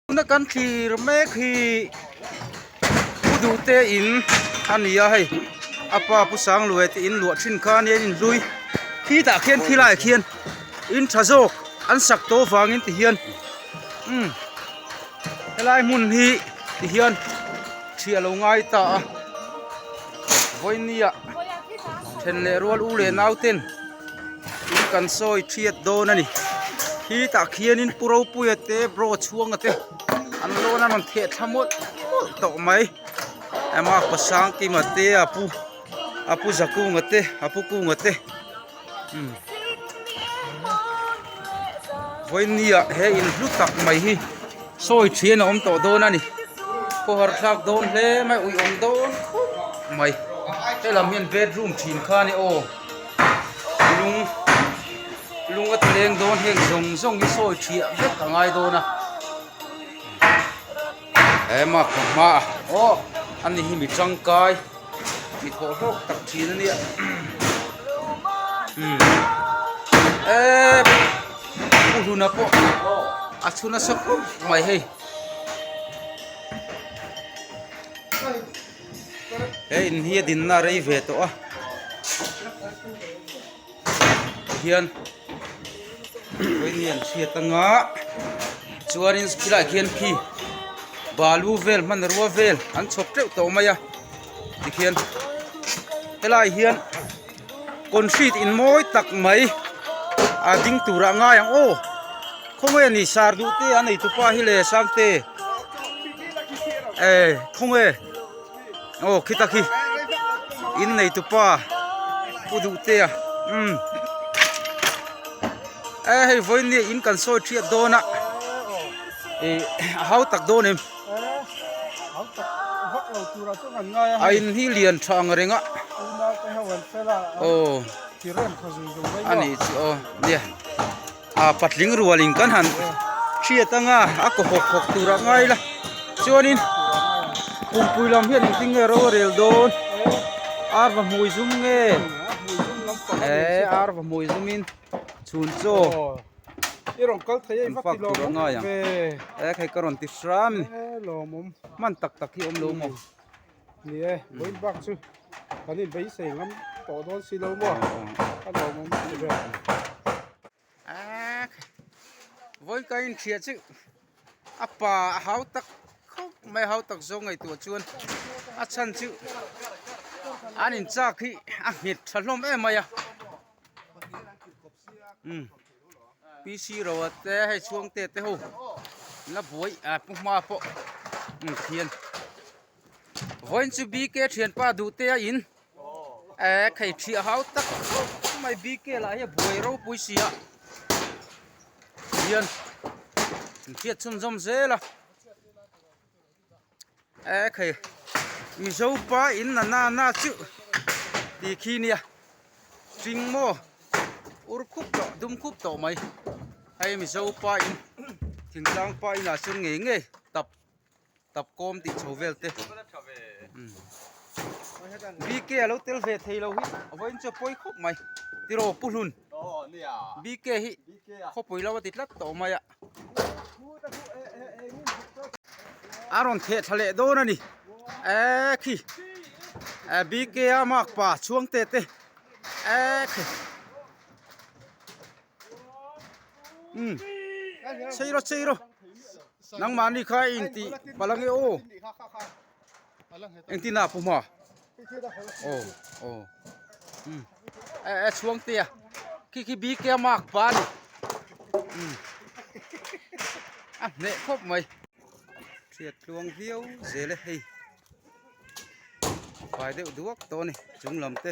Tuna kan thlir mek hi Pu Duhte in a ni a hei a pa Pu Sanglue tih in luah thin khan hian in hlui khi tah khian khi lai ah khian in tha zawk an sak tawh vang in ti hian umm helai hmun hi ti hian thri alo ngai ta a vawinia then leh rual u leh nau ten in kan sawi thiat dawn a ni khi tah khian in pu ropuia te bro chhuanga te an lawna rawn thehtha mawlh mawlh tawh mai ema a kawsang kim a te a pu a pu zakung a te a pu kung a te umm vawinia he in hlu tak mai hi sawi thian a awm tawh dawn a ni pawh har thlak dawn hle mai ui awm dawn khawp mai helam hian bedroom thin kha a ni aw. lung lung a tleng dawn heng zawng zawng hi sawi ṭhiah vek a ngai dawn a he makhawm hma ah awh a ni hi mi ṭangkai mi thawh hlawk tak ṭhin a nia u hluna pawh a chhu nasa khawp mai hei. He in hi a dinna a rei ve tawh a, kei hian khawinia an hriat anga chuanin khilai khian khi balu vel hmanrua vel an chhawp teuh tawh mai a tikhian helai hian. Concrete in mawi tak mai a ding tur ah ngai ang aw khawnge a ni sir duh te an eitu pa hi le sangte ehh khawnge aw khi ta khi in neitu pa pu duh te a umm ehh hei vawiin nge in kan sawi thiat dawn a ehh a hau tak dawn em. a in hi lian tha ang reng a aw a nih chu aw nia a patling rual in kan han hriat ang a a kaw hawk hawk tur ah ngai la chuan in pumpuii lam hian eng tinge ro rel dawn ar va hmui zum nge e ar va hmui zum in. chhun chu i rawn kal thei a i fak tawh ang ai ang e kei ka rawn ti hram ni e lawmawm hman tak tak hi awm lo maw ni e void bak chu kan in beisei ngam tawh dawn si lo maw a lawmawm ti ber a void ka in thliah chih a pa a hau tak khawp mai a hau tak zawng ngei tur chuan a chhan chu an in chak hi a nghit tha hlawm em mai a PC roa te hei chhuang te te ho la buai ah pu hma pawh an thian vawiin chu bk thianpa duh te a in eh khei thliah hau tak chumai bk lah hi a buai ropui si a thian an hriat chhun zawm zel a. Eh khei Mizo pa in na na na chuh ti khi nia Hring maw ur khup tawh dum khup tawh mai hei Mizo pa in thing tlang pa inah chuan ngei ngei tap tap kawm tih chho vel te BK a lo tel ve thei lo hi a vawiin chu a pawi khawp mai tiraw Pu Hlun BK hi khaw pawilo a ti tlat tawh mai a. a rawn theh thla leh dawn a ni eee khi ehh B K a nghakpa chhuangte te eee khi umm chei rawh chei rawh nangmahni kha a intih pal ang e aw. Eng tin a pu ma. Oh oh. Hmm. Eh eh chuang te a. Ki ki bi ke mak pa ni. Hmm. A ne khop mai. Thiat luang viau zele hei. Pai deuh duak to ni. Chung lam te.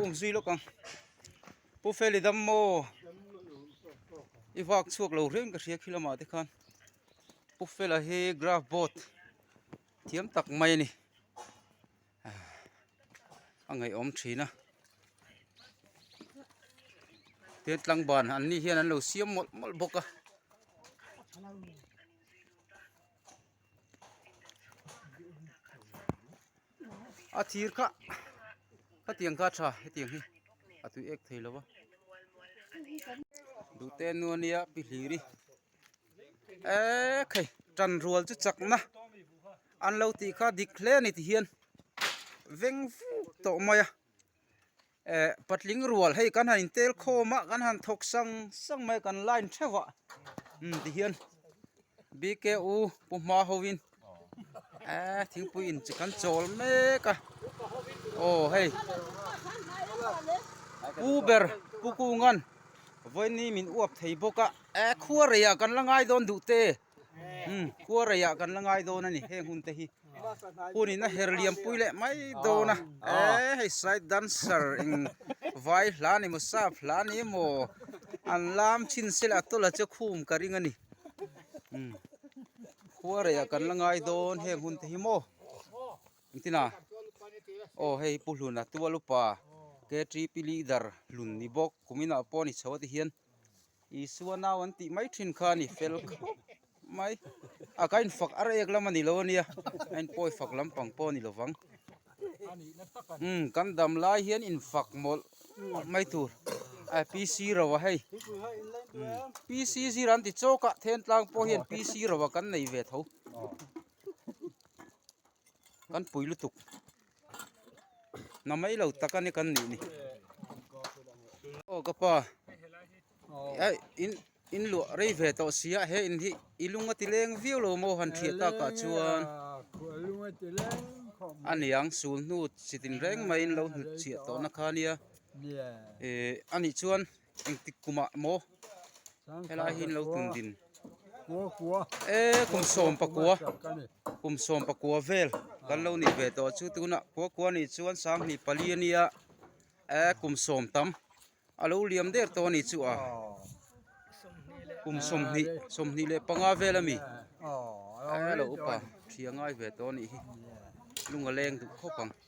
Ung zui lawk ang Pu Feli dam maw i vak chhuak lo reng ka hria khi lamah te khan Pu Fela hi graph boat thiam tak mai a ni a ngaihawm thin a tin tlangban an ni hian an lo siam mawlh mawlh bawk a. a thir kha khatiang kha a tha hetiang hi a tui ek thei lo va duhte nu a nia pi hlir hi ekhei tan rual chu chak na an lo tih kha dik hle a ni tih hian veng fuh tawh mai a. ehh patling rual hei kan han in tel khawm a kan han thawk sang sang mai a kan line theuh a umm tihian bku pu hma ho in ehh thingpui in chi kan chawl mek a aw hei pu ber pu kungan vawiin min uap thei bawk a ehh khua rei ah kan la ngai dawn duh te. Khuareia kan la ngai dawn a ni heng hun te hi hun in a her liampui leh mai dawn a eee hei side dancer eng vai hla ni maw sap hla ni maw an lam chhin se leh a tawlh a che khum ka ring a ni khuareia kan la ngai dawn heng hun te hi maw ang tin a aw hei hi pu hlun a tual upa ktp leader hlun ni bawk kuminah pawh a ni chho a ti hian. Isua nau an tih mai thin kha a ni fel khawp mai. A ka infak ar ek lam a ni lo a nia, a inpawi fak lampang pawh a ni lovang. Umm kan dam lai hian infak mawlh mai tur a PC ro a hei. PC zir an ti chawkah Thentlang pawh hian PC ro a kan nei ve tho. Kan pui lutuk na mai lo tak a ni kan nih ni aw ka pa ai in in lu rei ve tawh sia he in hi i lunga ti leng viau lo mo han thia ta ka chuan aniang sul hnu sitin reng mai in lo hlut chhia tawh na khania e ani chuan engtik kum ah maw helai hi lo tum din e kum sawm pakua kum sawm pakua vel kan lo nih ve tawh chu tunah khua khua nih chuan sang hnih pali a nia e kum sawm tam a lo liam der tawh a nih chu a kum sawm hnih sawm hnih leh panga vel a mi a lo upa hria ngai ve tawh a nih hi lung a leng duh khawp ang.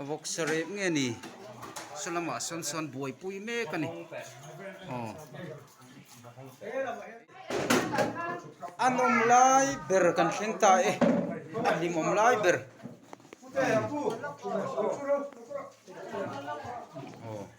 a vawk sa rep nge ni salamah sawn sawn buaipui mek a ni aw a nawm lai ber kan thleng ta e a hlim awm lai ber aw.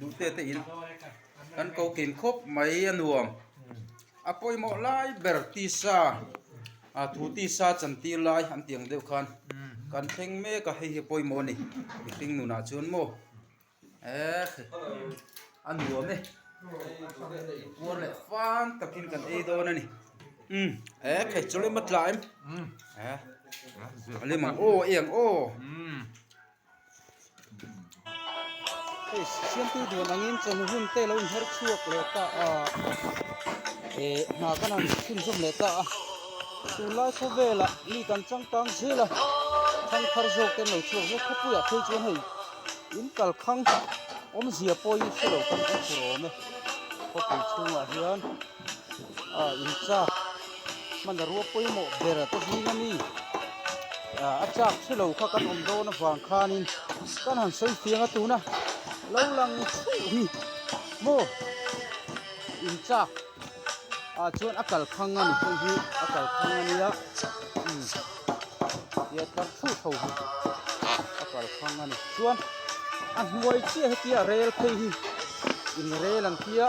Duhtete in kan ko kîl khawp mai a nuam. A pawimawh lai ber tisa, ah thu tisa chan tir lai an tih ang deuh khan kan thleng mek a hei hi a pawimawh a ni. I hring nunah chuan maw eh a nuam e. Puar leh fân takin kan ei dawn a ni. Umm eh phei chu lemawt tla em. Lim ang aw, eng aw. siamtu duan angin chawhnu hun te lo inher chhuak leh ta a eh hna ka rawn chhun zawm leh ta a tunlai khaw velah mi kan changkang zel a thangthar zawk te an lo chhuak zawk khawpui ah phei chuan hei in kalkhang awmzia pawi hi thilo kan hmuh tur a awm e khawpui chhungah hian-- Ahh in chak hman a rua pawimawh ber a tlahing a ni. Ahh a chak thulo kha kan awm dawn avang khanin kan han sawi fiang a tuna lo lang thuh hi maw in chak ah chuan a kalkhang a ni hei hi a kalkhang a nia umm tia tlar thuh tho hi a kalkhang a ni chuan a hnuai chiah hetia rel phei hi in rel an tia.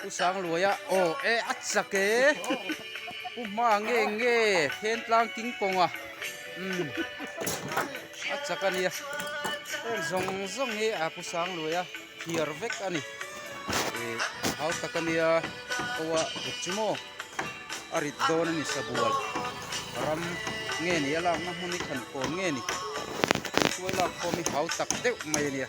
Pu Sangluaia aw e a chak e pu hma nge nge thentlang king kawnga umm a chak a nia heng zawng zawng hi a pu Sangluaia thiar vek a ni e hau tak a nia aw a dik chu maw a rit dawn a ni sabual ram nge ni a lakna hmun hi tha ni kawm nge ni tualak khawm hi hau tak deuh mai a nia.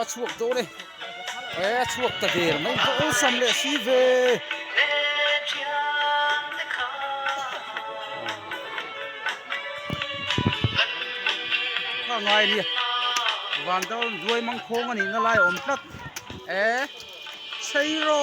a chhuak tawh le e a chhuak ta der mai ka awlsam leh si ve ka ngai ria vantau duai mangkhawng a nih na lai awm tlat e sairo